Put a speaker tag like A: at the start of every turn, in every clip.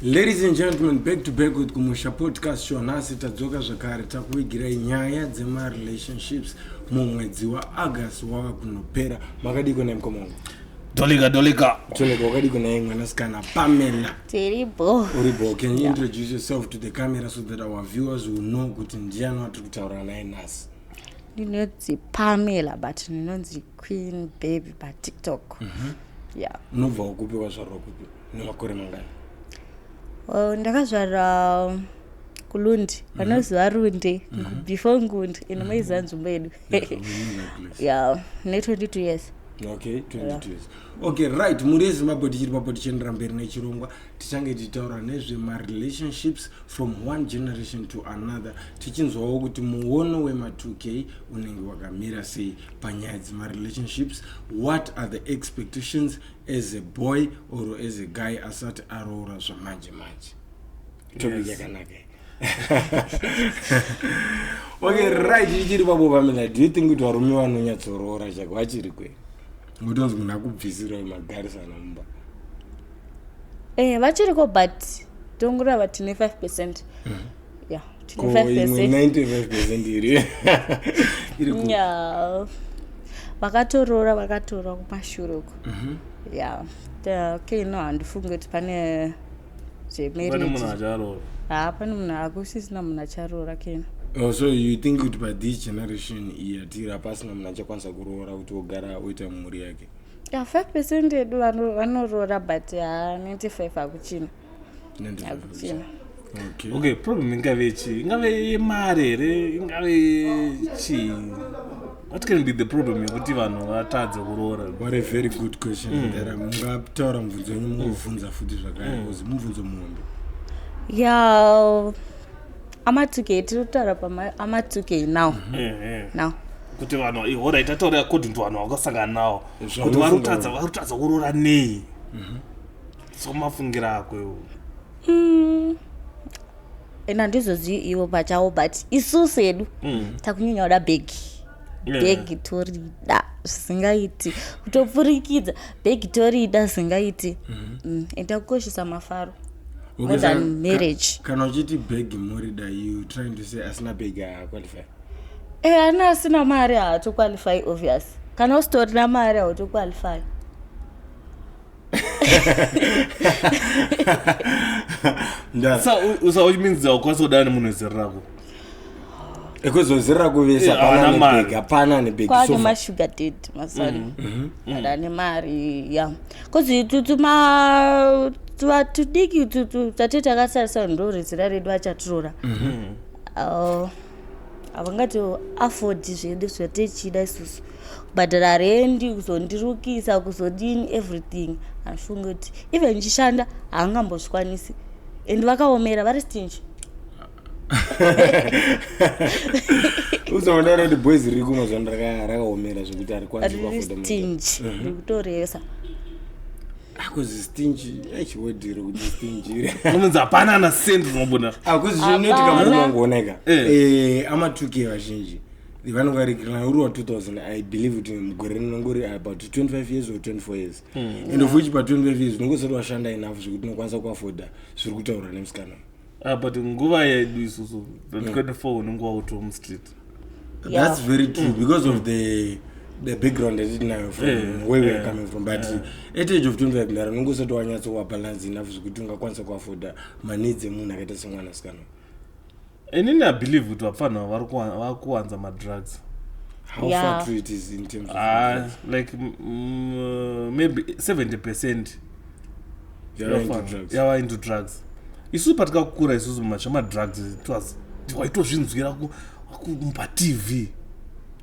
A: ladies and gentlemen back to back with kumusha podcast show nhasi tadzoka zvakare takuvigirai nyaya dzemarelationships mumwedzi waaugust wava kunopera makadiko nai mukoma wangu dolika dolika
B: toneka wakadiko
A: nai mwanasikana pamela tiri bo
C: uri bo can you
A: introduce yourself to the camera so that our viewers will know kuti ndiyani watiri kutaura naye nhasi ndinonzi
C: pamela but ndinonzi queen baby patiktok mm -hmm. yeah. unobva wakupi
A: wazvarwa kupi nemakore mangani well, ndakazvarwa
C: um, kulundi mhm. vanoziva mm -hmm. runde mm -hmm. before ngundi and mhm. maiziva mm -hmm. nzvimbo yedu yeah, ne 22 years okay 22 yeah. years
A: okay right mhuri yezimbabwe tichiri papo tichiendera mberi nechirongwa tichange tichitaura nezvemarelationships from one generation to another tichinzwawo kuti muono wema2k unenge wakamira sei panyaya dzemarelationships what are the expectations as a boy or as a guy asati aroora zvamanje manje topic yakanaka yes. okay right ichiri pabo pamina do you think kuti varume vanonyatsoroora chako vachiri kwe mutonzi munhu akubvisiroi magarisana mumba eh
C: vachiriko but tongurava tine 5 percent
A: mm -hmm
C: vakatoroora vakatoroora kumashure uko mhm. ya okay no handifunge kuti pane zvemarriageapane
B: ah, munhu
C: akusisina munhu acharoora kena Oh, so you think
A: kuti by this generation yatiri hapasina munhu achakwanisa kuroora kuti ogara oita mhuri yake ya five percent
C: edu vanoroora but ha ninety five hakuchina hakuchina
B: okay. okay problem ingave chii ingave yemari here ingave chii what can be the problem yekuti vanhu vatadze kuroora what a very good
A: question mm. there mungataura mubvunzo wenyu mungobvunza mm. futi zvakare mm. because mubvunzo muhombe ya
C: amatukei tiri kutaura paamatukei now mm-hmm. eh, eh. now kuti vanhu
B: ihora itataura according to vanhu vakasangana nawo kuti varutadza varutadza kuroora nei mm-hmm. so mafungira ako iwo mm.
C: and handizozii ivo pachavo but isusu hedu mm. takunyanya kuda bhegi bhegi torida zvisingaiti kutopfurikidza bhegi torida zvisingaiti mm-hmm. mm, and takukoshesa mafaro more than marriage kana uchiti bhegi
A: morida you trying to say asina bhegi haaqualify e eh, ana
C: asina mari haatoqualify obvious kana usitorina mari hautoqualify
B: so which means haukwanisa kudana nemunhu wezera rako ekuzozera
A: kuvesa eh, pananebega pananebegakwane mashugar dad
C: masori mm-hmm. mm-hmm. ada ane mari ya kozi tutuma tudiki tate takasarisa ndo rezera redu achatirora mm-hmm. uh, havangati afford zvedu zvatechida isusu kubhadhara rendi kuzondirukisa kuzodini everything andifunge kuti even ndichishanda haangambozvikwanisi and vakaomera vari stingi
A: usaondaura kuti boys riri kumwe zvano rakaomera zvekuti arikwanisiastingi mhm.
C: rikutoresa
A: akuzistingi achiwedhiro kuti stingire unonzi hapana ana
B: sendi unobuda akuzizvinoitikamunongooneka
A: ah, eh. eh, amatuki vazhinji vanogarikirirana uri wa 2000 i believe kuti mugore rinonge uri about 25 years or 24 years mm. and of which pa 25 years unonge usati washanda enough zvekuti unokwanisa kuafoda zviri kutaurwa nemusikana ah, but nguva
B: yedu isusu 24 mm. unenge wauto mustreet yeah. that's
A: very true mm. because of the the background yatitinayo from yeah. where yeah. weare coming from but yeah. at age of 25 ndara unonge usati wanyatso wabalance enough zvekuti ungakwanisa kuafoda maneeds emunhu akaita semwana sikana
B: inini i believe kuti vapfanha ava vari kuwa- vari kuwanza madrugs how Yeah. far
A: true it is in terms of Ah, like mm,
B: mm, maybe 70 percent They are into drugs. yava into drugs isusu patikakura isusu mumacha madrugs it was- waitozvinzwira ku- ku- patv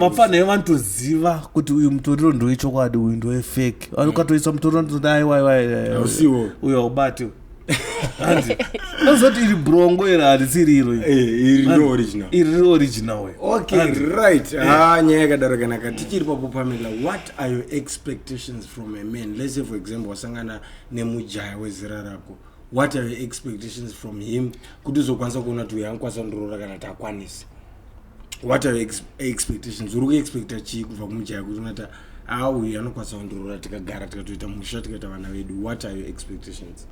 C: vapfana ivo
B: vanotoziva kuti uyu mutoriro ndowechokwadi uyu ndowefake vanokatoisa mutoriro ndizoti aiwaiwaiusiwo uyu haubati hanzi anozoti iri brongo here handisi iriro
A: iri riro original
B: okright
A: eh. ha nyaya yakadaro kanaka tichiri papo pamela what are your expectations from a man let's say for example wasangana nemujaya wezera rako what are your expectations from him kuti uzokwanisa kuona kuti uyo ankwanisa kundorora kana takwanisa what are expectations uri kuexpecta chii kubva kumujaya kuti unata a uyu anokwanisa kundirora tikagara tikatoita musha tikaita vana vedu what are your expectations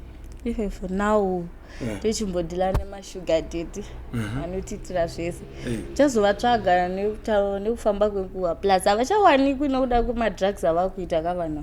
A: even for
C: now tochimbodhila yeah. nemashuga dady mhm. anotiitira uh -huh. zvese eh. chazovatsvaga yeah. nekufamba kwenguva plus havachawanikwi nokuda kwemadrugs avakuita kavana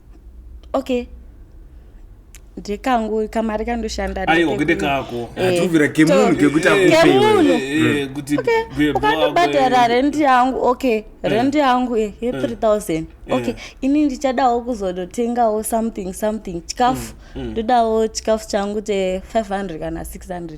C: okay ndekangu kamari kandoshanda aiwa kwete kako
B: atuvira eh, kemunhu
A: kekuti akukemunhu eh, eh,
B: hmm. ukandobhadhara
C: rendi yangu okay rendi yangu ye 3000 okay ini ndichadawo kuzonotengawo something something chikafu hmm, hmm. ndodawo chikafu changu che 500 kana 600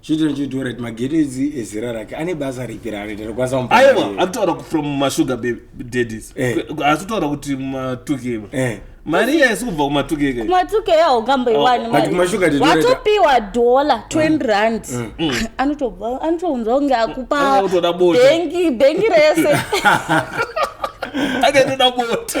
B: chitiro chidhora
A: kuti mageto idzi ezera rake ane basa ripi raanoita rokwanisa kumupa aiwa mari. akutaura
B: from masugar baby daddies Eh. asi kutaura kuti matuke Eh. mari iya isi kubva kumatukeke Kuma- kumatuke
C: yaungamboiwani But kumashuga did you read- watopiwa dhola 20 rand anotobva anotounzwa kunge akupa Anga kutoda bota. bengi bengi rese
B: akatoda bota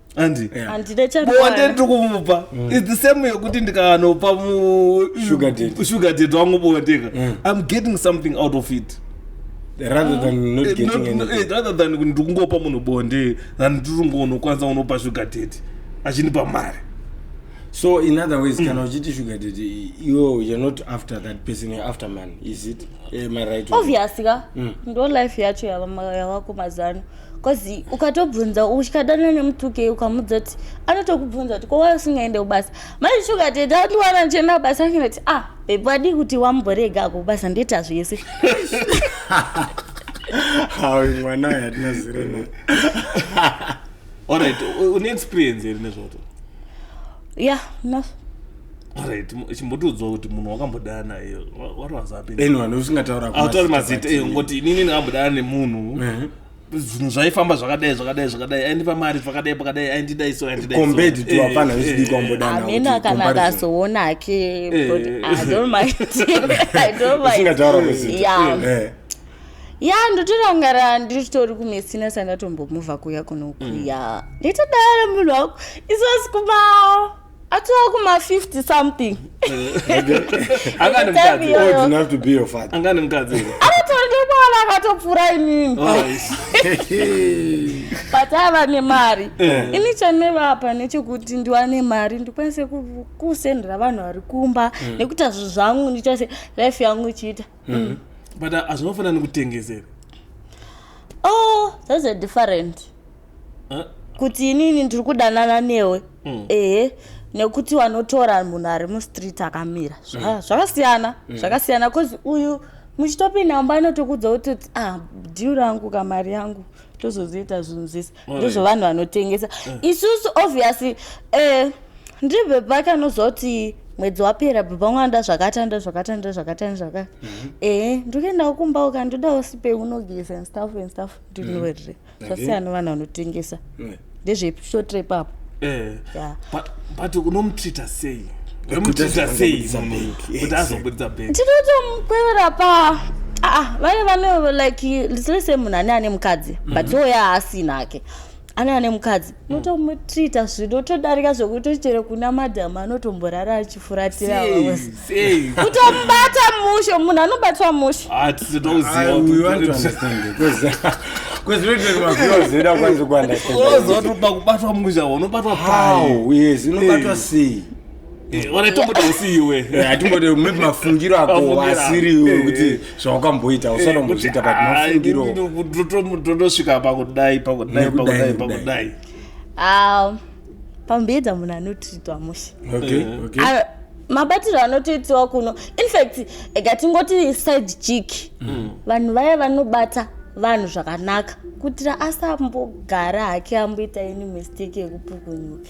B: Andi. Yeah. And the child. Bonde one. ndikumupa. Mm. It's the same yekuti ndikanopa mu sugar date. Sugar date wangu bonde ka. Mm. I'm getting something out of it. rather than mm. not eh,
A: getting not, anything. Eh, rather than ndikungopa
B: munhu bonde than ndikungonokwanisa unopa sugar date achinipa mari so
A: in other ways mm. kana uchiti sugar date iwe you're not after that person you're after man is it am i right obvious ka mm.
C: ndo life yacho yavako mazano yeah. bcause ukatobvunza uchikadana nemutuke ukamudza kuti anotokubvunza kuti kowai usingaende kubasa manje shuga tete andiwana ndichienda kubasa akenda kuti ah bebi wadii kuti wamborega ako kubasa ndoita zvese
A: mwana ayo hatina zero na allright
B: une experience here nezvoto ya
C: yeah,
B: Right, mu- chimbotiudzawo kuti munhu wakambodana iye wa- what was happening anyone usingataura kuma
A: atori mazita mazita eh, but-
B: ngoti inini ndakambodana nemunhu Ehe. zvinhu zvaifamba zvakadai zvakadai zvakadai aindipa mari pakadai pakadai aindidai so aindidai so. Compared to Eh, hapana
A: eh, vechidiki eh, wambodana. Kana amene kuti kana comparison.
C: akazoona hake but Eh. i don't mind i don't mind
A: usingataura mazita Yeah. Eh. ya ndotorangara
C: nditori kumesina sandatombomuvha kuya kunokuya nditodara munhu wako isosikumawo atova kuma 50 something
A: anganemukadzinganemukadzingaatorekwala
C: akatopfura inini but ava nemari eh. ini chanovapa nechekuti ndiwane mari ndikwanise kusendera vanhu vari kumba eh. nekuti azvo zvangu ndichase life yangu ichiita eh. mm. but
B: azvinofanira nekutengesera oh
C: that's a different kuti inini ndiri kudanana newe mm. ehe nekuti wanotora munhu ari mustreet akamira mm. zvakasiyana mm. zvakasiyana bcause uyu muchitopinda mumba anotokudza kutoti ah dhiu rangu kamari yangu tozozoita zvinhu zvese ndizvo vanhu vanotengesa mm. isusu obviously eh, ndiri bhebha kanoziva kuti mwedzi wapera bhebha ngwanda zvakatanda zvakatanda zvakatanda zvaka mhm. ehe eh, ndikuendawo kumba uka ndodawo sipe unogeza and stuff and stuff ndinoerere mm. zvasiyana vanhu vanotengesa eh. ndezveshotre
B: ipapo
C: eh. but
B: unomutreata sei tinotomukwerera
C: pa aa vane vane like lise munhu ane ane mukadzi but mhm. oya haasina ake ane ane mukadzi unotomutreata zvinotodarika zvekuti chero kuna madhamu anotomborara achifuratira utomubata mushe munhu anobatwa mushe
B: kuzivakubatwa musha unobatwa pao yes unobatwa
A: sei wanatomboda
B: usi iwe atimbode eh, maybe
A: mafungiro ako asiri iwe eh, kuti eh. zvawakamboita usanombozviita but mafungiro totosvika
B: pakudai pakudai pakudai pakudai
C: um, pambeedza munhu anotritwa mushe mabatiro anotoitiwa kuno infact ega tingoti side chick mm. vanhu vaya vanobata vanhu zvakanaka kutira asambogara hake amboita ini mistake yekupukunyuka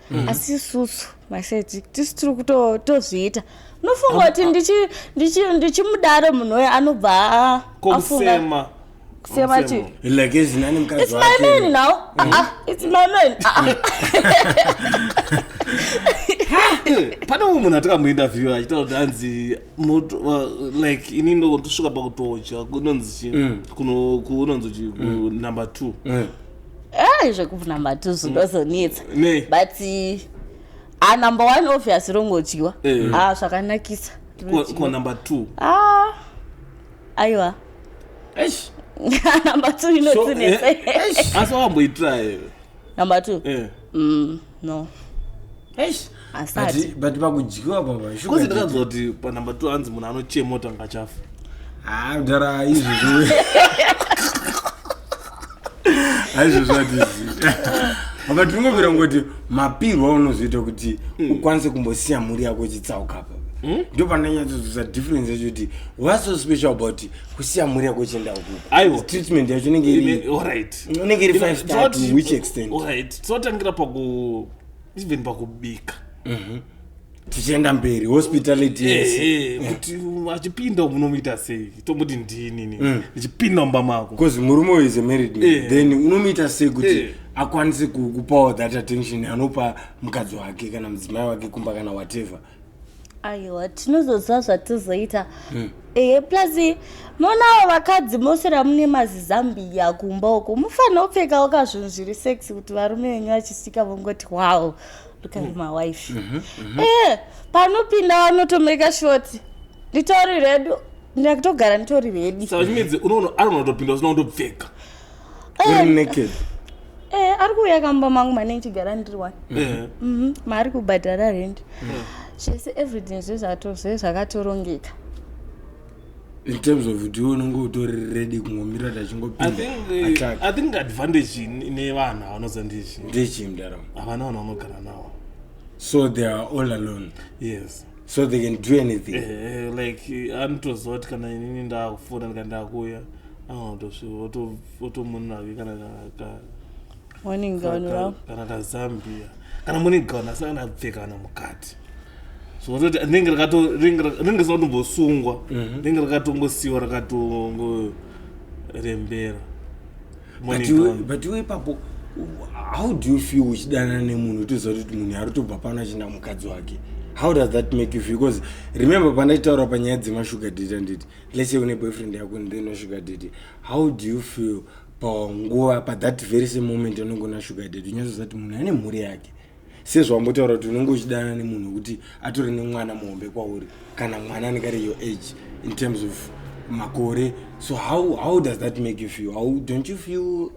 C: mm. asi isusu maseti tisu tiri kutozviita unofunga kuti ndichimudaro munhu uyo anobva afunga kusema chii like as nani mkazi
A: it's my man
C: now ah, ah it's my man ah, ah.
B: pane umwe munhu atikamuinterview achitaura kuti anzi like ini ndosvika pakutodya kunonzi chi mm. kunonzi chi mm. number two mm. ai
C: zvekubvuna matuzu ndozonetsa Ne. but eh, ah, number one obvious rongodyiwa Eh. ah, zvakanakisa Ko- ko number
B: two ah, aiwa
C: Eish. number two So, inotsinese eh, eish. asi
B: wakamboitira here number two
C: Eh. mm, no Eish. asati
A: But- but pakudyiwa baba kozi shuga ndakanzwa
B: kuti panumber two hanzi munhu anochema kuti angachafa Ah, mdara
A: izvi zviwe aizvozvo hatizivi apa tinongobvira ngoti mapirwa aunozoita kuti ukwanise kumbosiya mhuri yako ichitsauka apa ndo pandanyatsozosa difference yacho kuti what's so special about kusiya mhuri yako ichienda ukuku Aiwa. treatment yacho inenge iri Ine- alright. inenge iri Ine- five star to tinoti- which extent alright tinotangira paku
B: even pakubika mhm.
A: tichienda mberi hospitality yes eh, eh, kuti
B: mm. achipinda unomuita sei tomuti ndinini mm. ndichipinda mumba mako bcause murume uyu is a married
A: man eh. then unomuita sei kuti akwanise kupawo that attention anopa mukadzi wake kana mudzimai wake kumba kana whatever aiwa
C: tinozoziva zvatizoita hmm. ehe plus monawo vakadzi mose ramune mazizambiya kumba uko mufanira kupfekawo ka zvinhu zviri sex kuti varume venyu vachisvika vongoti wow look at hmm. my wife mhm, mhm. ehe panopinda vanotomeka shoti nditori redu ndakutogara nditori redi saka zvinedzi unoona ari
B: unotopinda usina kutopfeka uri
A: naked eh ari
C: kuuya kamba mangu mane ndichigara ndiri one Eh. Mhm, maari kubhadhara rent zvese everything zvezvato zvezvakatorongeka
A: in terms of kuti iwe unenge utori ready kungomira kuti I achingopinda think, eh, attack I think
B: advantage in- ine vanhu avanoza ndizvi ndechii mdaramo
A: havana vanhu vanogara
B: nawo so they
A: are all alone yes so
B: they can do
A: anything Eh, eh, like eh,
B: anotoziva kuti kana inini ndakufona ndika ndakuya otomonera ke kana kana kazambia kana morning gown asi kana apfeka kana mukati so ototi rinenge rinenge satombosungwa mhm. rinenge rakatongosiwa rakatongoreembera
A: but iwe ipapo how do you feel uchidanana nemunhu utoziva kuti munhu ari tobva pano achienda mukadzi wake how does that make you feel because remember pandachitaura panyaya dzemashuga date anditi let's say une boyfriend yako and then sugar daddy how do you feel panguva pa that very same moment anonge una sugar daddy unyatsoziva kuti munhu ane mhuri yake sezvawambotaura kuti unenge uchidana nemunhu wekuti atore nemwana muhombe kwauri kana mwana anenge ari your age in terms of makore so how, how does that make you feel how, don't you feel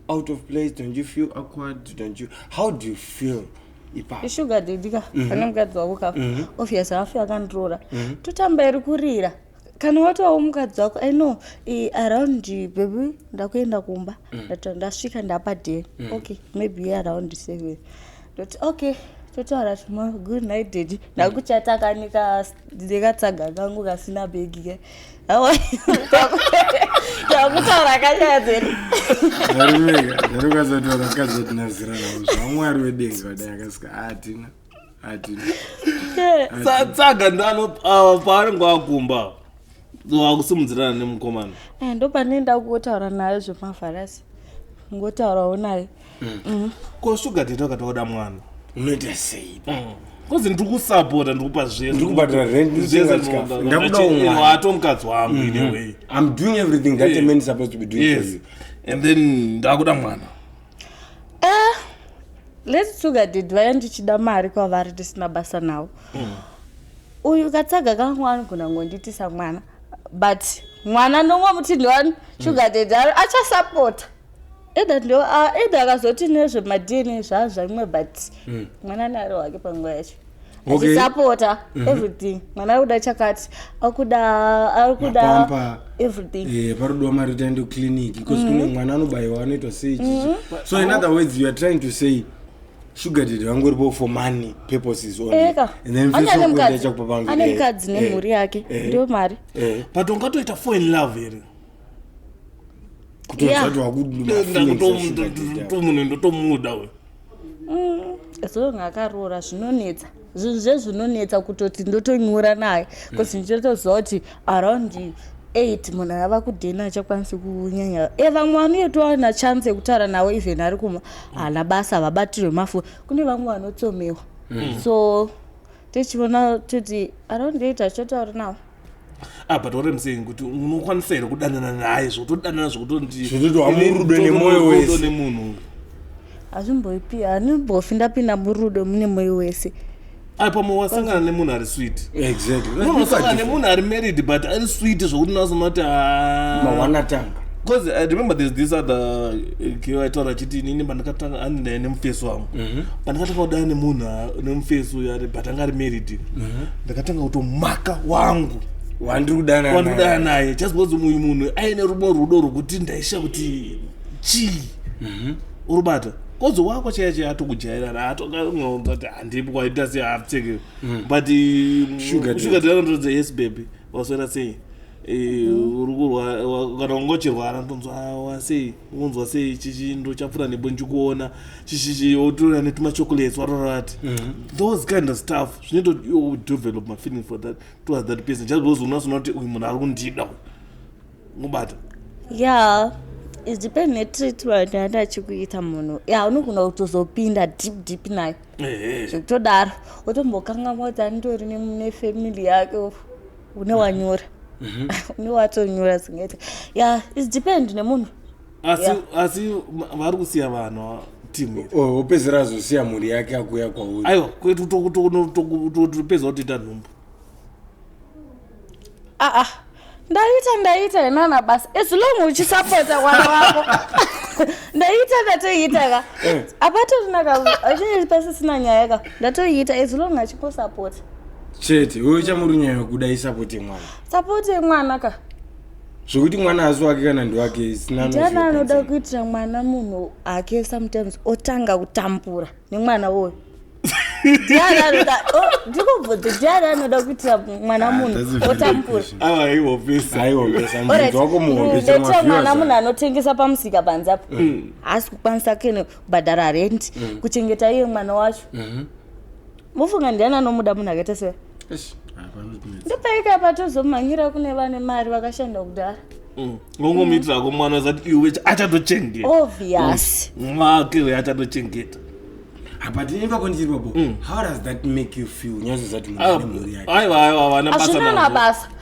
A: out of place don't you feel awkward don't you how do you feel ishuga
C: dedi ka mhm. pane mukadzi wako ka mhm. obvious hafi akandiroora mhm. totamba iri kurira kana watovawo mukadzi wako i know around baby ndakuenda kumba ndasvika ndapa day okay maybe around seven ndoti okay totaura timo good night dedi ndakuchatakanika ndekatsaga kangu kasina begi ke yakutaura kanyaya dzedu zvarukazotaura
A: kazotinazira navo zvamwari wedenga vadai akasika hatina hatina
B: tsaga ndano paanenge wakumba wakusimudzirana nemukomana eh, ndo pane
C: ndakuotaura nayo zvemafarasi ngotaurawo naye mm. ko
B: sugar date wakatoda mwana unoita sei
A: mm. kozi ndiri
B: kusapota ndiri kupa zvesndiri kubhadhara
A: rentindakudawato mukadzi wangu mm-hmm.
B: ine way im doing everything
A: that a man is supposed to be doing for you and then
B: ndakuda mwana eh,
C: lets sugar did vaya ndichida mari kwavari tisina basa nawo mm. uyu katsaga kangu anogona ngonditisa mwana but mwana nongomuti ndiwani sugar did achasapota either ndo ah, either akazoti nezvemadna zvazvaimwe but mm. mwana naro wake panguva yacho achisapota okay. mm -hmm. everything mwana ari kuda chakati akuda ari kuda everything yeah, parudiwa mari taende
A: kuclinic because mm -hmm. kune mwana anobayiwa anoitwa sei mm -hmm. so in other words you are trying to say sugar dad vangoripo for money purposes onlyachakupapaane
C: mukadzi nemhuri yake ndio mari but ungatoita
B: fo in love here
A: kutomunhu ndotomuda uyu mm,
C: zong akaroora zvinonetsa zvinhu zvezvinonetsa kutoti ndotonyora naye bcause mm. ndichitoziva kuti around eight munhu ava kudhena achakwanisi kunyanya e vamwe vanotoa na chance yekutaura nawo even ari kuma hana basa vabatirwe mafu kune vamwe vanotsomewa mm. so tichiona toti around eight achotaura nawo ah but what
B: i'm saying kuti unokwanisa here kudanana naye zvotodanana Zvekuti
A: wamurudo nemoyo wese. zvokutonditodo nemunhu uyu
B: hazvimboipi
C: handimbofi ndapinda murudo mune moyo wese ai pamwe
B: wasangana nemunhu ari sweet exactly Unogona Look at kusangana different-
A: nemunhu ari married
B: but ari sweet zvokuti nasounoti mawana
A: tanga Because I
B: remember there's this other uh, girl I told her chiti nini pandakatanga ani ndaye nemufesi wangu pandakatanga kudana nemunhu ah, nemufesi uyu ari but anga ari married mhm. ndakatanga kutomaka wangu wandiri kudana
A: wandiri kudana naye just because uyu
B: munhu aine rubo rudo rwokuti ndaisha kuti chii mhm. urubata kozo wako chaiya chaiya atokujairana atokaunza kuti handipi kwaita se hapfeke mm. but shuga drakatorodza yes baby waswera sei Eh, uri kurwara kana ungochirwara ndonzwa wasei unzwa sei chichindo chapfuura nebo ndichikuona chichichi wotora netuma chocolates watorati mhm. those kind of stuff zvinoita kuti iwo develop mafeeling for that towards that person just because unasoona kuti uyu munhu ari kundida uyu ngobata yeah
C: it depend netreatment yaenda achikuita munhu ya unogona kutozopinda deep deep nayo zvekutodaro wotombokangamwa kuti anditori nefamily yake une wanyora mhm. une watonyora zingete ya it depend nemunhu asi Yeah. asi
B: ma- vari kusiya vanhu timu iri O- opedzera azosiya
A: mhuri yake akuya kwauri aiwa kwetu to- to-
B: no- to- to- topedza kutoita nhumbu aa Ah,
C: ndaita ndaita henana basa as long uchisapota mwana wako ndaita ndatoiita ka apatorina ka achinge pasisina nyaya ka ndatoiita as long achingosapota chete
A: iwe uchamurunyaya kuda isapoti mwana sapoti yemwana
C: ka zvekuti
A: mwana asi wake kana ndiwake sinana anoda
C: kuitira mwana munhu ake sometimes otanga kutambura nemwana woyo ndikubvudza ndiani anoda kuitira mwana ah, munhu otamburadetira mwana munhu anotengesa pamusika panze apo mm. haasi kukwanisa kene kubhadhara rendi mm. kuchengeta iye mwana wacho mm-hmm. mofunga ndiani anomuda munhu akaita se ndopaika patozomhanyira kune vane mari vakashanda kudhara mm. ngongomuitirako
B: mwana zati iwe achatochengeta obvious
C: mm. mwake uyo
B: achatochengeta Ah, but
A: imva kwandichirwa bo mm. how does that make you feel nyazvo zati mhuri ah, yake aiwa aiwa vana basa azvinana
B: basa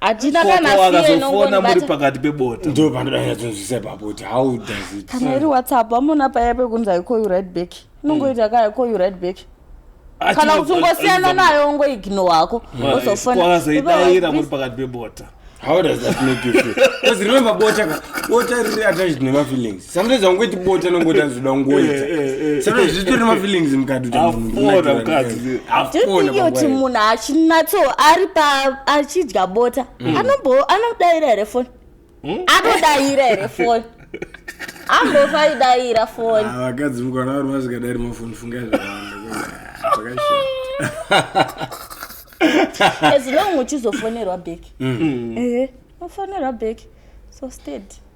C: hatina kana Koko fear akazofona muri inongonibata pakati
B: pebota ndo pandodanyatsinzwisa
A: ipapo kuti how does it kana iri whatsapp vamona
C: paya pekunzi i call you right back inongoita ka i call you right back kana kuti ungosiyana nayo ungoignore hako wozofona wakazoidaira muri
B: pakati pebota how does that
A: make you feel because remember bota ka bota riri attached nemafeelings sometimes aungoti bota anongoti azoda kungoita Eh, eh, eh. sometimes zvitori mafeelings mukati kuti munhu Hapfona unatira mukadzi. kuti- hapfona tothingi kuti
C: panguva iyo. munhu achinatso ari pa achidya bota anombo anodaira here foni anodaira here foni ambofa idaira foni Ah, vakadzi mukana vari
A: vasikadari mafoni funga as
C: long uchizofonerwa back ehe ufonerwa back so steady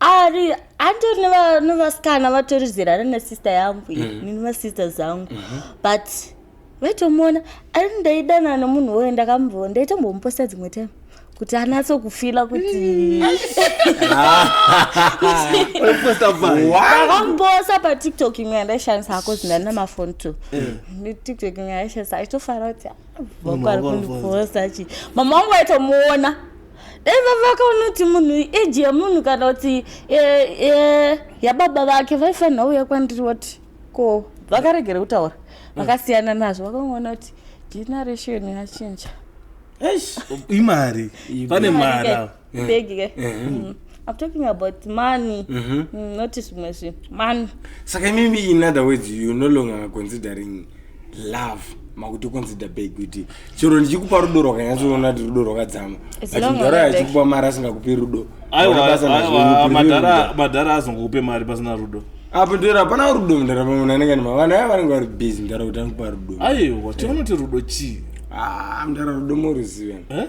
C: ari andori nevasikana vatori zera rana sister yangu mm. nini vasister zangu mm -hmm. but vaitomuona ari ndaidanana nomunhu woyo ndakamubvoo ndaitombomuposta dzimwe time kuti anatso kufila kutiakambosa patiktok imwe yandaishandisa ako zindani namafoni to tiktok imwe yandaishandisa aitofara kuti ah, vako ari kundiposa chi mama wangu aitomuona dai vavaka unoti munhu eji yemunhu kana kuti yababa vake vaifanira uya kwandiri wati ko vakaregera kutaura mm. vakasiyana nazvo vakangoona kuti generation yachinja
B: imari pane mari begi ke mm.
C: mm. I'm talking about money. Mm-hmm. Mm, not zvimwe zvinhu. Money. Saka imimi in
A: other words you no longer considering love makuti consider bag kuti chero ndichikupa rudo rwakanyatsoona kuti rudo rwakadzama but mudhara yachikupa mari asingakupi rudo madhara
B: azongokupe mari pasina rudo apo ndiro hapana
A: rudo mudhara pamwe munhu anenge nemavana aya vanenge vari busy mudhara kuti anokupa rudo aiwa tiona kuti
B: rudo chii ah, mudhara
A: rudo moruziva eh?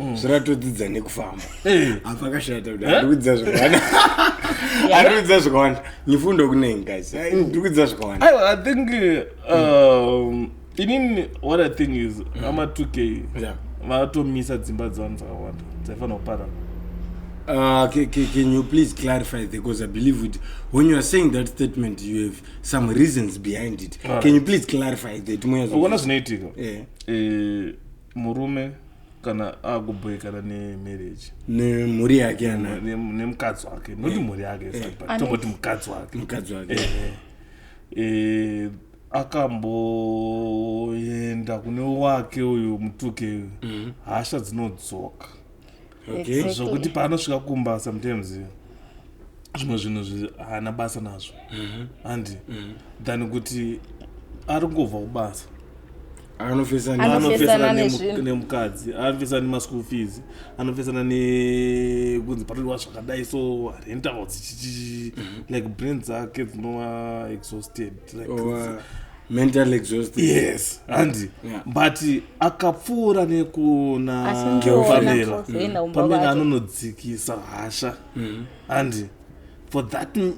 A: mm. zviratodzidza nekufamba eh. apa akashata kuti arikudzidza zvakawanda arikudzidza zvakawanda nyifundo kune ngazi mm. ndikudzidza zvakawanda i think
B: um, inini what i think is mm. ama 2 k vatomisa dzimba dzevanhu dzakawanda dzaifanira kupara Uh,
A: can, can, can you please clarify that? Because I believe it, when you are saying that statement, you have some reasons behind it. Right. Can you please clarify that? Ukona zvinoitika.
B: Yeah. Eh, murume kana akubhoikana nemarriage nemhuri yake
A: ana nemukadzi wake
B: not eh. mhuri yake eh. tongoti mukadzi wake mukadzi wake eh. akamboenda kune wake uyu mutuke uyu mm. hasha dzinodzoka okay. zvokuti paanosvika kumba sometimes zvimwe zvinhu haana basa nazvo mhm. handi mm -hmm. than kuti ari kungobva kubasa anofesana
A: nemukadzi
B: anofesana nemaschool fees anofesana nekunzi patoiwa zvakadai so rentals mhm. like brain dzake dzinova exhausted like, oh,
A: mental exhausted yes handi
B: Yeah. but akapfuura Asi nekuna ndiwo pamela wena kuzoenda kumba pamela kwacho. anonodzikisa hasha handi for that m-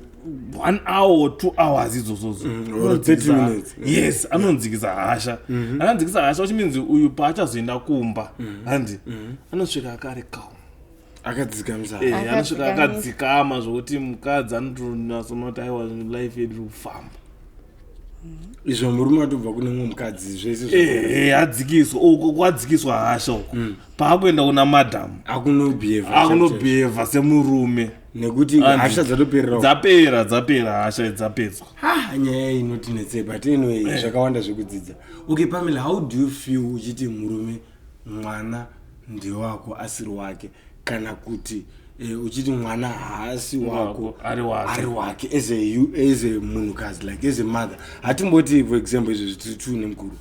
B: one hour or two hours idzozozo or 30 minutes.
A: yes anonzikisa
B: hasha anonzikisa hasha which means uyu paachazoenda kumba handi anosvika akari calm
A: akadzikamsanosvika
B: akadzikama zvokuti mukadzi anotonasomati aiwa life yedu kufamba mm-hmm.
A: izvo murume atobva kune mumwe mukadzi zveseadzikiswa eh, eh,
B: kwadzikiswa hasha uko mm. paakuenda kuna madam akunobhehevaakunobheheva semurume nekuti hasha
A: dzatoperera dzapera dzapera
B: hasha dzapedzwa nyaya inoti
A: netsei but anyway eh. zvakawanda zvekudzidza okay pamela how do you feel uchiti murume mwana ndewako asiri wake kana kuti eh, uchiti mwana haasi wako ari wake. ari
B: wake as a,
A: you- as a munhukadzi like as a mother hatimboti for example izvo zvitiri two nemukuru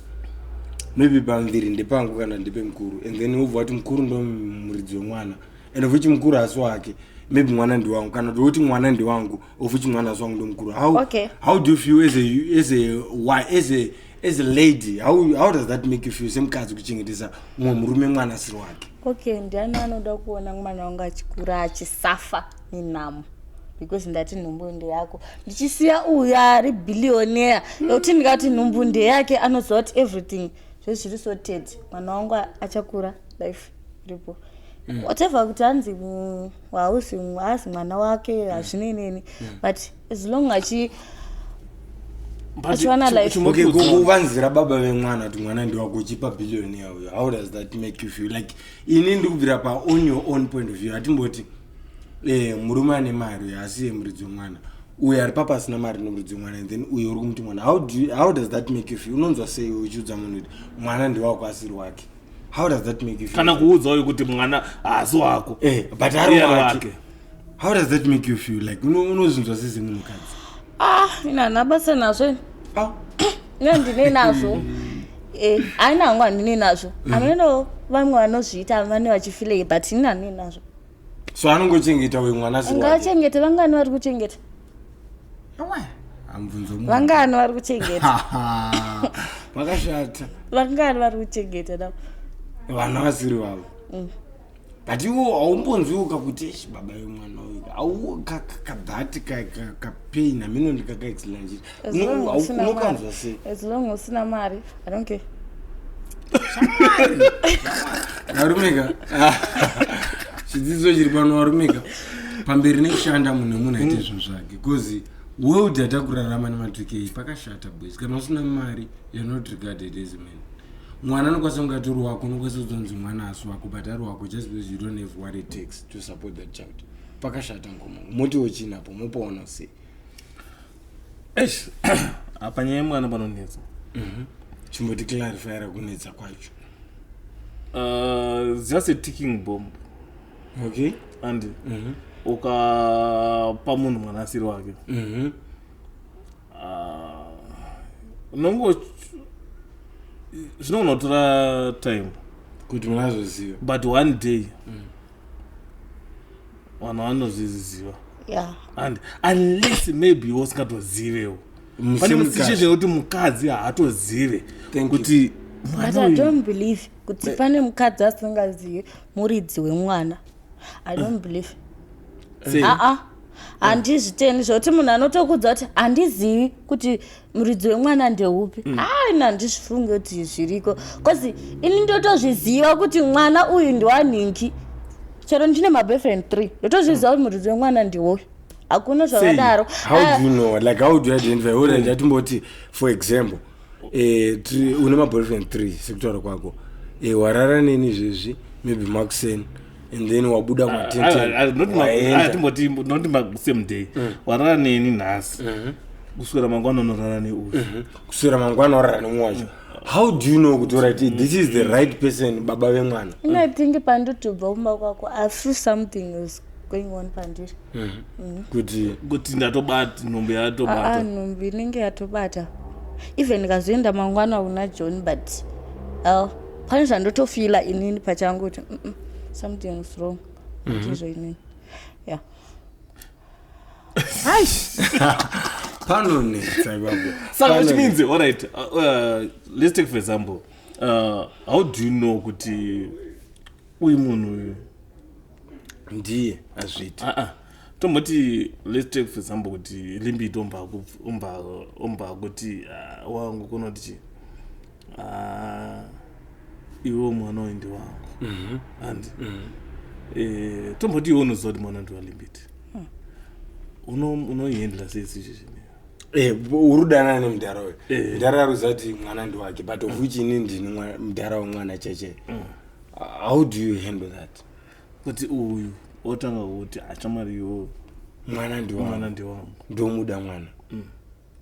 A: maybe pamuviri ndepangu kana ndepe mukuru and then wobva wati mukuru ndo muridzi wemwana and of which mukuru haasi wake maybe mwana ndiwangu kana kuti woti mwana ndiwangu of which mwana haasi wangu ndomukuru how, Okay. how do you feel as a, as a, why, as a, as a lady how, how does that make you feel semukadzi kuchengetesa mumwe murume mwana asiri wake okay ndiani anoda
C: kuona mwana wangu achikura achisafa nenhamo because ndati nhumbu ndeyako ndichisiya uyu ari billionaire yekuti mm. ndikati nhumbu ndeyake anoziva kuti everything zvese zviri so ted mwana wangu achakura life iripo mm. whatever kuti anzi hausi haazi mwana wake hazvinei mm. neni mm. but as long achi achiwana life okay go go vanzira
A: baba vemwana kuti mwana ndiwako uchipa billion yawo how does that make you feel like ini ndikubvira pa on your own point of view atimboti eh murume ane mari uyo asi ye muridzi wemwana uyo ari papa asina mari nomuridzi wemwana and then uyo uri kumuti mwana how, do you, how does that make you feel unonzwa sei uchiudza munhu kuti mwana ndiwako asiri wake how does that make you feel kana kuudza uyu kuti mwana
B: haasi wako eh but ari wake
A: how does that make you feel like unozvinzwa sisi munhu mukadzi ah ina
C: nabasa nazvo ah ina ndine nazvo eh aina hangu handine nazvo mm. anoenda vamwe vanozviita vane vachifilei but ina ndine nazvo so
A: anongochengeta uyu mwana ngaachengete vangani vari
C: kuchengeta vangani vari kuchengeta vakashata
A: vangani vari kuchengeta
C: na vana vasiri
A: vavo mm. but iwo haumbonzwiuka kuti eshi baba yemwana uyu aukakadhati kapain amino ndikakaexlanjira unokanzwa sei as long usina
C: mari i don't care
A: varumika chidzidzo chiri pano varumika pamberi nekushanda munhu munhu aite zvinhu zvake bcause world yatakurarama nematukei pakashata boys kana usina mari you're not regarded as man mwana anokwanisa kunge atori wako unokwanisa kuzonzi mwana asi wako but ari wako just because you don't have what it takes to support that child pakashata ngomo motiwo chinapo mopaona sei eish
B: apa nyaya yemwana panonetsa mhm. chimboti
A: clarifyira kunetsa kwacho
B: uh, just a ticking bomb okay
A: and mhm.
B: ukapa munhu mwana asiri wake mhm. uh, unongo zvinogona kutora time kuti munazoziva
A: but one day
B: mm. vanhu vanozviziva yeah. and unless maybe iwe usingatozivewo pane musishe zvekuti mukadzi haatozive kuti but i don't
C: believe kuti eh. pane mukadzi asingazivi muridzi wemwana i don't eh. believe aa eh. ah, ah. handizviteni zvekuti munhu anotokudza kuti handizivi kuti muridzi wemwana ndeupi mm. haina ndizvifunge kuti zviriko bcause ini ndotozviziva kuti mwana uyu ndiwanhingi chero ndine maboyfriend three ndotozviziva kuti muridzi wemwana ndiwoyo hakuna zvakadaro
A: ndatimboti for example eh, une maboyfriend three sekutaura kwako eh, warara neni izvezvi maybe makuseni mm. and then wabuda matentenatimboti
B: masame day mm. warara neni nhasi mm-hmm. kuswera mangwana unorara neuyu mm-hmm. kuswera mangwana
A: orara nemwe wacho mm. how do you know kuti orit this is the right person baba vemwana ingatenge
C: pandotobva kumba kwako i feel something is going on pandiri mm-hmm. mm-hmm. kuti
B: kuti ndatobata nhumbi yatobata ah, ah, nhumbi inenge
C: yatobata even ndikazoenda mangwana kuna john but pane zvandotofila inini pachangu kuti mm -mm, something is wrong mm -hmm. izvo inini ya
A: panonetsa ipapo saka which means all
B: right uh, uh, let's take for example uh, how do you know kuti uyu munhu uyu
A: ndiye azviita uh -uh tomboti
B: let's take for example kuti limbiti omba akuti ah, wangu kunoti chii Ah, iwo mwana uyu ndiwangu mhm. and mhm. eh, tomboti iwe unoziva kuti mwana ndiwalimbiti hmm. unoihendla sei situation eh, uri
A: kudanana nemudhara uyu eh. mudhara aruziva kuti mwana ndiwake but of which ini ndini mudhara wemwana cheche hmm. how do you handle that kuti uyu
B: otanga kuti achamari
A: iwo mwana ndiwangu ndomuda mwana hmm.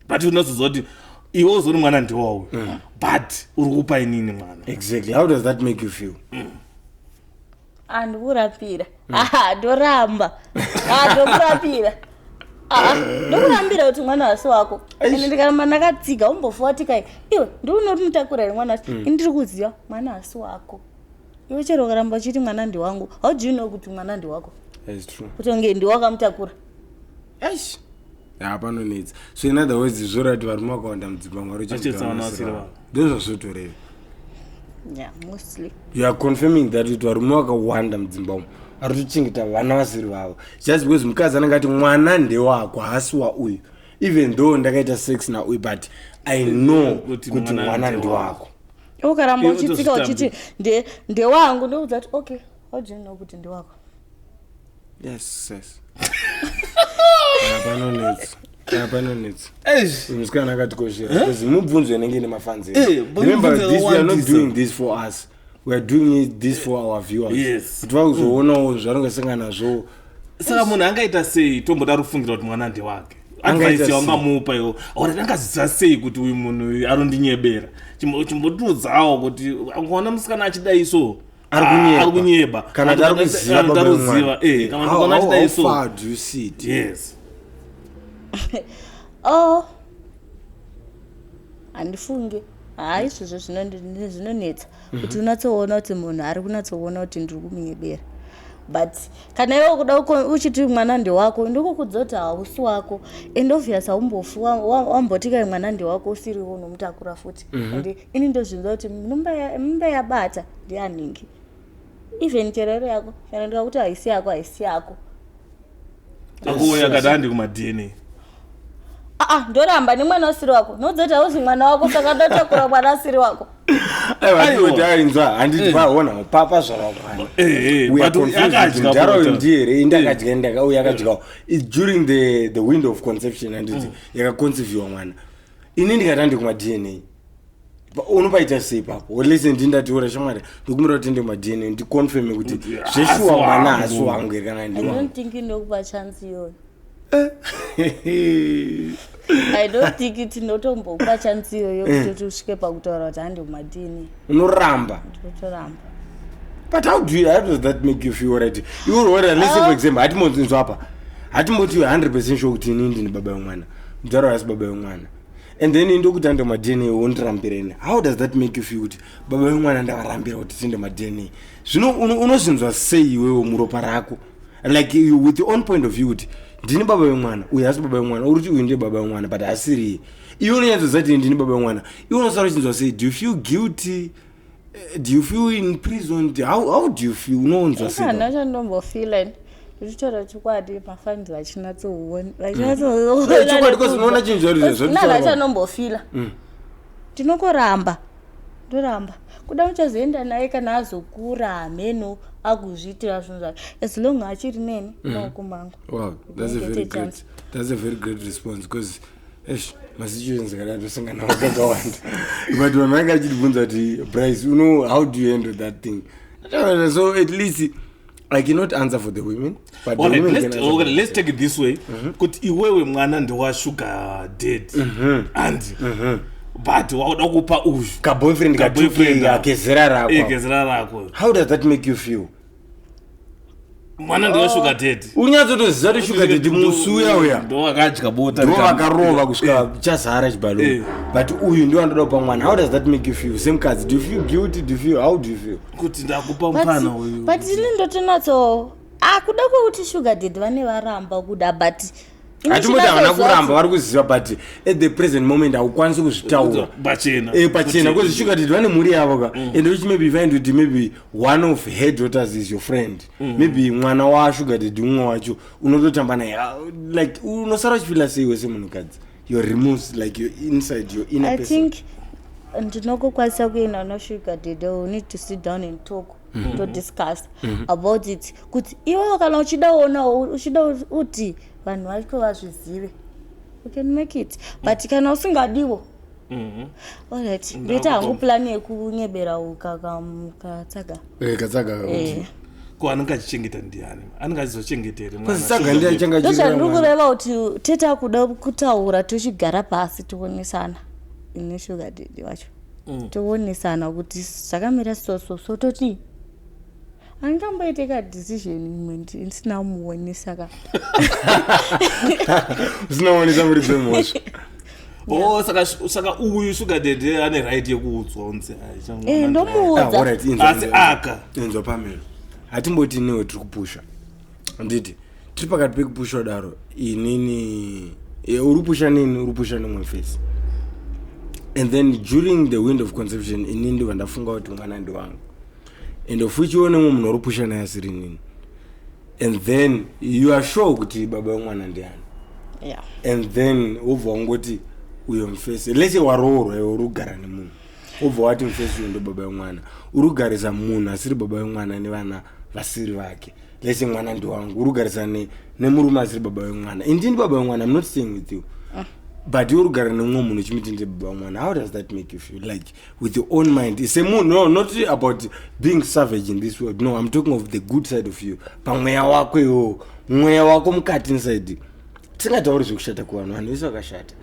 A: but
B: unozoziva kuti iwe uzoni mwana ndiwawo mm. but uri kupa inini mwana exactly how does that
A: make you feel mm.
C: andikurapira mm. aha ndoramba ah, ndokurapira ah, ndokurambira kuti mwana wasi wako ende ndikaramba ndakatsiga umbofuwatikai iwe ndiunoti mutakura here mwana wasi mm. ndiri kuziva mwana wasi wako iwe chero ukaramba uchiti mwana ndiwangu how do you know kuti mwana ndiwako kutonge
A: ndiwakamutakura
C: eish
A: Ah, panonetsa so in other words zvoreva kuti varume vakawanda mudzimba mwari Vachitsa vana vasiri uchengetavasiri vavo. ndozvazvotoreva yeah
C: mostly you are confirming
A: that kuti varume vakawanda mudzimba umu ari kutochengeta vana vasiri vavo just because mukadzi anenge ati mwana ndewako haasi wauyu even though ndakaita sex nauyu but i know Kuti kuti mwana mwana ndewako. ndewako iwe ukaramba Iwe
C: uchitsika uchiti utozvitambira. nde- ndewangu ndoudza kuti okay how do you know kuti ndewako yes
A: yes panonetsa Ah, panonetsa Eish. musikana akatikoshera because mubvunzo inenge ine mafanzi Eh, but remember mubvunzo this we are not yakawandisa. doing this for us we are doing it this for our viewers Yes. kuti vakuzoonawo zvaringasangana nazvo saka munhu
B: angaita sei tomboda rufungira kuti mwana ndewake Angaita advice sei? yaungamupa yo or angaziva sei kuti uyu munhu uyu anondinyebera Chimbo- chimbotiudzawo kuti ukaona musikana achidai so ari kunyeba ari kunyeba kana kuti ari kuziva Kana
A: kuti ari baba kuziva vemwana.
B: eh kana kuti How- kana how- achita how iso far do you see
C: it? yes oh handifunge haa izvozvo zvinondi- ndi- zvinonetsa kuti unatsoona kuti munhu ari kunatsoona kuti ndiri kumunyebera but kana iwe kuda uko- uchiti mwana ndewako ndikukudza kuti hausi wako and obvious haumbofi wa- wa- wambotika mwana ndewako usiriwo unomutakura futi and ini ndozvinza kuti mimba yabata ndianingi even chero iri yako kana ndikakuti haisi yako haisi yako
B: akuuya akati andi kumadna aa ah, ah, ndoramba
C: nemwana usiri wako noudza kuti hauzi mwana wako saka ndotakura mwana asiri wako aiotainza
A: handiti eh. vaona papa zvavakwana eh, eh, ndiye here indakadya ndakauya akadyawo during the window of conception handiti mm. yakaconceiviwa mwana ini ndikati andi kumadna unopaita sei ipapo olese ndi ndatiora shamwari ndikumira kuti ende madna ndiconfirme kuti zveshuwa mwana hasi wangu here kana ndiwandokupa
C: chance iyoyo i don't think kuti ndotombokupa chance iyoyo eh. kutoti usvike pakutaura kuti handi kumadna unoramba
A: ndotoramba
C: but
A: how do you, how does that make you feel right iwe uroora lese for ah. example hatimonzinzwa apa hatimbotiwe 100 percent sure kuti ini ndini baba yemwana mudhara asi baba vemwana and then ndokuti ande madna wondirambireni how does that make you feel kuti baba vemwana ndavarambira kuti tiende madna zvino unozvinzwa sei iwewo muropa rako like you, with your own point of view kuti ndini baba vemwana uyu hasi baba vemwana uri kuti uyu ndiye baba vemwana but asiriye iwe unonyatsoziva kuti ndini baba vemwana iwe unosara uchinzwa sei do you feel guilty Eh, do you feel in prison how, how do you feel unoonza seihana chandombofeela
C: zvichitaura chokwadi mafambi vachinatsoona vachinatsoona chinhu
A: zvarizvozvonana chanombofeela
C: mm. ndinokoramba ndoramba kuda uchazoenda naye kana azokura hameno akuzviitira zvinhu zvake as long achiri neni mm. naokumangu wow that's a
A: very great that's a very great response because eish masituations akadai tosangana nawo kakawanda but vanhu vange vachitibvunza kuti brice you know how do you handle that thing Ndataura, so at least i cannot answer for the women but the Alright, women let's- can answer for okay, let's
B: take it this
A: way
B: kuti iwewe mwana ndewashuga dad and but wakuda kupa uyu kaboyfriend Kaboyfriend katuke
A: ako. akezera Eh, rako gezera rako how does that make you feel
B: mwana ndiwe sugar daddy unyatsotoziva kuti sugar
A: daddy musi uya uya ndo akadya bota ndo
B: vakarova kusvika
A: chazara chibalo Eh. but uyu ndo andoda kupa mwana how does that make you feel semukadzi do you feel guilty do you feel how do you feel kuti ndakupa
B: mupana uyu but ini ndotonatso
C: akuda kwekuti sugar dad vane varamba kuda but hatimoti havana
A: kuramba vari kuziva but at the present moment haukwanisi kuzvitaura pachena eh, bcause sugar did vane mhuri yavo ka mm. and which maybe find kuti maybe one of her daughters is your friend mm. maybe mwana wasugar did umwe wacho unototamba naye ah, like unosara uchifila sei wese munhukadzi your removes like your inside your inner person
C: ndinokukwanisa kuenda nosugar did u need to sit down and talk mm-hmm. todiscuss mm -hmm. about it kuti iwewo kana uchidaona uchida kuti vanhu vacho vazvizive you can make it but mm. kana usingadiwo mm-hmm. alright ndoita hangu plani yekunyebera ukakatsaga eh, katsaga eh.
B: ko anenge achichengeta ndiani anenge achizochengeta
C: hreandiri kureva kuti tete akuda kutaura tochigara pasi tionesana ine shuga didi wacho mm. toonesana kuti zvakamira so so so toti angamboite ka decision imwe ndisina kumuonesa ka
A: usina kuonesa muri dzemhosva Oh,
B: saka saka uyu sugar daddy ane right yekuudzwa unzi eh, ndomuudza
C: ah, asi
B: aka inzwa pamela
A: hatimboti newe tiri kupusha handiti tiri pakati pekupushwa daro inini e, uri pusha nini uri pusha nemwe face and then during the wind of conception ini ndiva ndafunga kuti mwana ndi wangu and of which iwo nemwe munhu uri pusha naye asiri nini and then you are sure kuti baba wemwana ndiani yeah. and then wobva wangoti uyo mfese lese waroorwa iwe uri kugara nemunhu obva wati mufesi uyu ndobaba wemwana uri kugarisa munhu asiri baba wemwana nevana vasiri vake lese mwana ndiwangu uri kugarisa nemurume asiri baba wemwana indini baba wemwana mnot saying with you ah. but uri kugara nemumwe munhu uchimiti ndi baba wemwana how does that make you feel like with your own mind ise munhu no not about being savage in this world no im talking of the good side of you pamweya wako iwowo mweya wako mukati inside tisingatauri zvekushata kuvanhu vanhu vese vakashata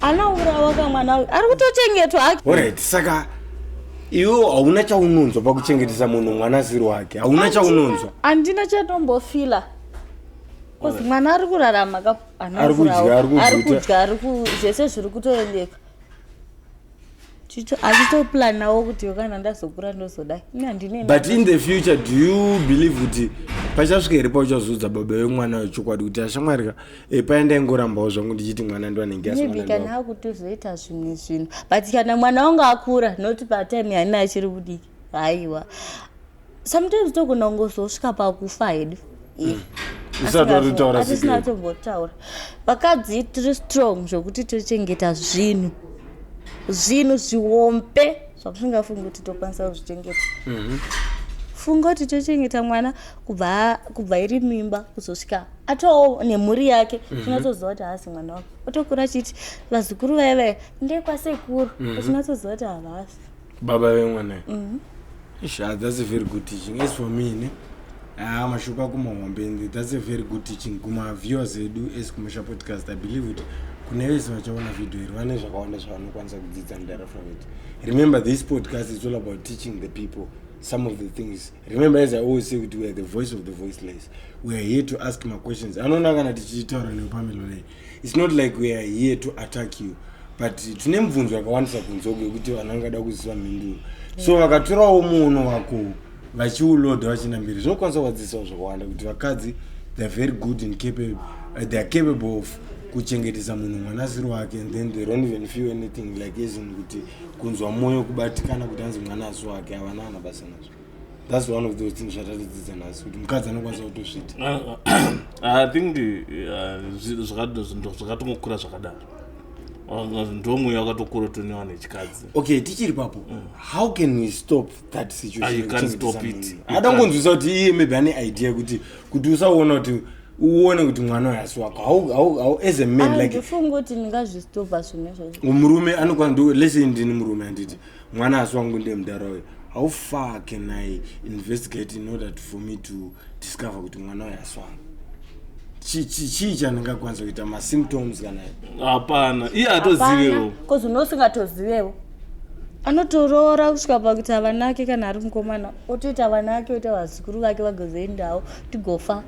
C: anourawa ka mwana uyu ari kutochengetwa hake orit saka
A: iwe hauna chaunonzwa pakuchengetesa munhu mwana asiri wake hauna chaunonzwa handina chatombofila
C: bcause mwana ari kurarama ka Ari kudya, ari kuguta. kudya ari ku zvese zviri kutoendeka achitoplanawo kuti kana ndazokura ndozodai but in the
A: future do you believe kuti pachasvika here pauchazoudza baba vemwana wechokwadi kuti ashamwari ka eh, paya ndaingorambawo zvangu ndichiti mwana ndiwanenge maybe kana
C: akutozoita zvimwe zvinhu but kana mwana wangu akura not patime yaina achiri kudiki haiwa sometimes togona kungozosvika pakufa hedu mm. atisina tombotaura vakadzi tiri strong zvokuti tochengeta zvinhu zvinhu zviwombe zvakusingafungi kuti tokwanisa kuzvichengeta mhm. funga kuti tochengeta mwana kubva iri mimba kuzosvika atoo nemhuri yake mhm. tinatoziva kuti haasi mwana wako otokura achiti vazukuru vaye vaye ndekwasekuru mhm. tinatoziva kuti havasi baba vemwana
A: mm -hmm. Ish, ah, that's a very good teaching as for me ne haa ah, mashoko ako mahombe and that's a very good teaching kumaviewers edu as kumusha podcast i believe kuti kune vese vachaona video iri vane zvakawanda zvavanokwanisa kudzidza mudara from it remember this podcast is all about teaching the people some of the things remember as i always say kuti weare the voice of the voiceless weare here to ask maquestions anoona kana tichitaura neupamelo lei It's not like we are here to attack you but tine mubvunzo yakawandisa kunzwa kwekuti vanhu vangada kuziva mhinduro so vakatorawo muono wako vachiuloda vachina mberi zvinokwanisa kuvadzisawo zvakawanda kuti vakadzi theyare very good and capable, uh, they are capable of kuchengetesa munhu mwana asiri wake and then they don't even feel anything like asin kuti kunzwa mwoyo kubatikana kuti anzi mwana asi wake havana ana basa nazvo thats one of those things zvatatidzidza nhasi kuti mukadzi anokwanisa kutozviti ah, ah,
B: ah, i think zvakatongokura zvakadaro ndomweya wakatokura tonewa nechikadzi okay tichiri papo
A: mm. how can we stop that situationada
B: kungonzwisa kuti iye
A: maybe ane idea kuti kuti usaona kuti uone kuti mwana wehasi wako as a man like ndifungoti ndingazvistopa
C: zvimwe zvacho murume anokwana
A: lese ndini murume anditi mwana asi wangu ndiye mudhara uyo how far can i investigate in order to, for me to discover kuti mwana uyo asi wangu chii chandingakwanisa kuita masymptoms kana hapana iye
B: atozivewo bcause une
C: usingatozivewo anotoroora kusvika pakuti avanake kana ari mukomana otoita vanake oita vazukuru vake vagozoendawo tigofa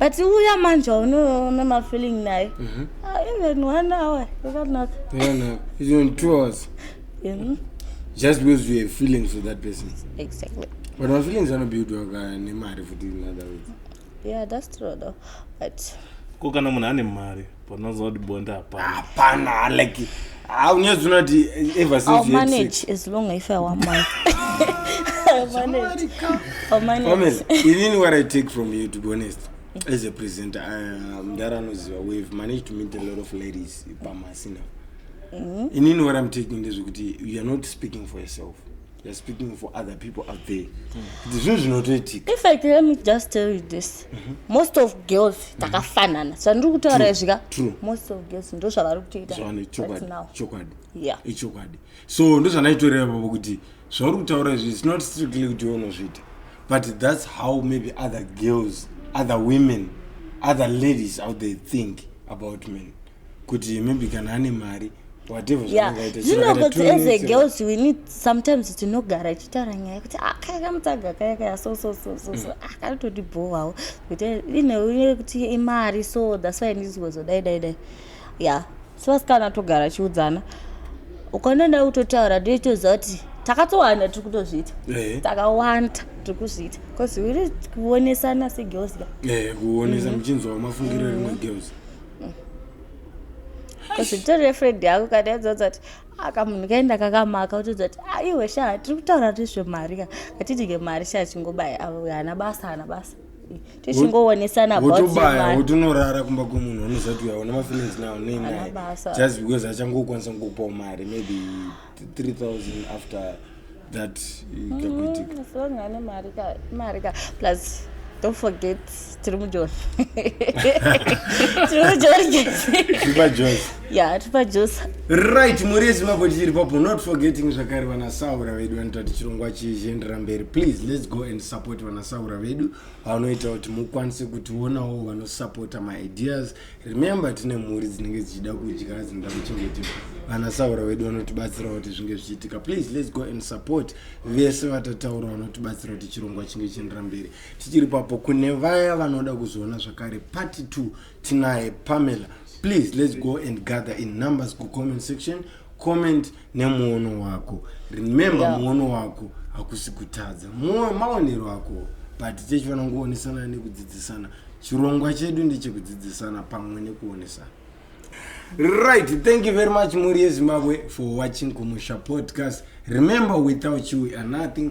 C: but uya manje unoona mafeeling naye mhm. ah, even one hour yakanaka two
A: hours just because you have feelings for that person exactly but
C: mafeelings
A: anobuildwa ka nemari futi in other words yeah that's true
C: though but ko kana munhu
B: ane mari panonzwa kuti bonda hapana hapana
A: like ah, unyadzi unoti ever since I'll you had sex. manage as long
C: if I want money. I'll manage. I'll manage. Promise, inini what i take
A: from you to be honest as a presenter uh, mdara anoziva we've managed to meet a lot of ladies pamasina inini what i'm taking ndezvekuti youare not speaking for yourself You're speaking for other people out there. Kuti zvinhu zvinotoitika. In fact, let me just
C: tell you this. Mm-hmm. Most of girls mm-hmm. takafanana. Zvandiri kutaura izvika. True.
A: Most of girls
C: ndo zvavari kutoita. Zvavane chokwadi. Chokwadi. Yeah. Ichokwadi. So
A: ndo zvandaitoreva baba kuti zvauri kutaura izvi it's not strictly kuti unozviita. But that's how maybe other girls, other women, other ladies out there think about men. kuti maybe kana ane mari
C: zvinogotseezegirls we need sometimes tinogara ichitaura nyaya kuti akakamutaga ah, kaya kaya so so so so so mm. akatoti ah, bhowawo kuti ine kuti imari so thats why ndiziwezo dai dai dai ya sevasikana togara chiudzana ukanonda kutotaura ndoitoziva kuti takatowanda tiri kutozviita eh. takawanda tiri kuzviita bcause uri kuonesana segirls ka eh, kuonesa
A: mhm. muchinzwa mafungiro rimwe girls
C: kuzvitori refred yako kana yadzoza kuti aka munhu kaenda kakamaka utodza kuti aiwe ah, sha tiri kutaura nezvemari ka katidike mari sha chingobaya avo hana basa hana basa tichingoonesana wotobaya
A: wotonorara kumba kwemunhu unozati uyaona mafeelings nawo neinai just because achangokwanisa kukupawo mari maybe 3000 after that ikakuitika mm,
C: so ngane mari ka mari ka plus don't forget tiri mujoni tiri mujoni tipajosi ya tipajosi right mhuri
A: yezimbabwe tichiri papo not forgetting zvakare vanasaura vedu vanoita kuti chirongwa chichiendera mberi please let's go and support vanasaura vedu vanoita kuti mukwanise kutionawo vanosupporta maideas remember tine mhuri dzinenge dzichida kudya dzinoda kuchengetwa vana saura vedu vanotibatsira kuti zvinge zvichiitika please let's go and support vese vatataura vanotibatsira kuti chirongwa chinge chiendera mberi tichiri papo kune vaya vanoda kuzoona zvakare party two tinaye pamela please let's go and gather in numbers kucomment section comment, comment nemuono wako remember yeah. muono wako hakusi kutadza maonero ako but tichifanira kuonesana nekudzidzisana chirongwa chedu ndechekudzidzisana pamwe nekuonesana right thank you very much mhuri yezimbabwe for watching kumusha podcast remember without you we are nothing